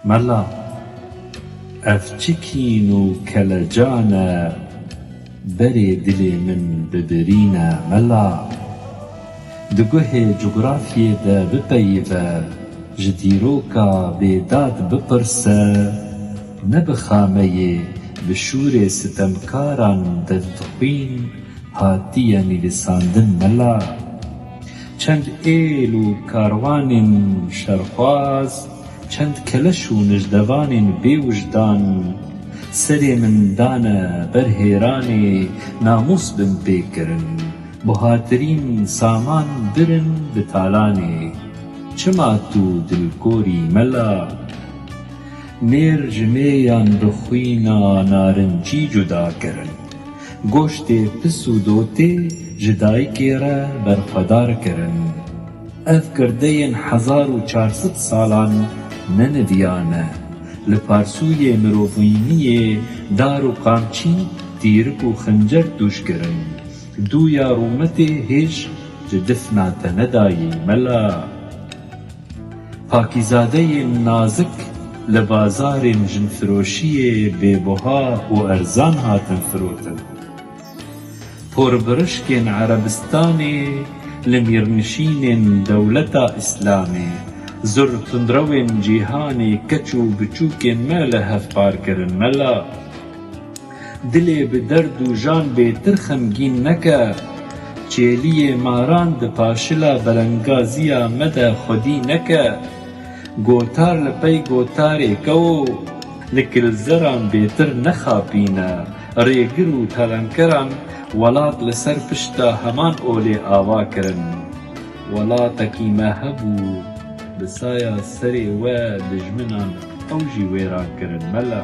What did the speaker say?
Mela, ev çi kîn û kelecan e, berê dilê min bibirîne mela. Di guhê cografyê de bipeyive, ji dîroka Bêdad bipirse, ne bi xameyê bi şûrê sitemkaran destxwîn hatiye nivîsandin mela. Çend êl û karwanên şerxwaz, Çend keleş û nijdevanên bêwijdan serê min dane ber hêranê namûs bim pê kirin, buhatirîn saman birin bi talanê. Çima tu dilgorî mela? Mêr ji mêyan bi xwîna narincî cuda kirin. Goştê pis û dotê ji dayikê re berxwedar kirin. Ev kirdeyên hezar û çar sed salan ne neviya ne. Li parsûyê mirovîniyê dar û qamçî, tîrik û xincer tûş kirin. Dûya rûmetê hêj ji difna te nedayî mela. Pakîzadeyên nazik li bazarên jinfiroşiyê bêbuha û erzan hatin firotin. Porvirişkên Erebistanê li mîrnişînên dewleta Îslamê, zur tundrewên cîhanê keç û biçûkên me li hev par kirin. Mela, dilê bi derd û jan bê tir xemgîn neke. Çêliyê maran di paşila berengaziya me de xwedî neke. Gotar li pey gotarê kewo, li kilzeran bêtir nexapîne. Rêgir û telemkeran welat li ser pişta heman olê ava kirin. Welatekî me hebû, bi saya serê we dijminan ew jî wêran kirin mele.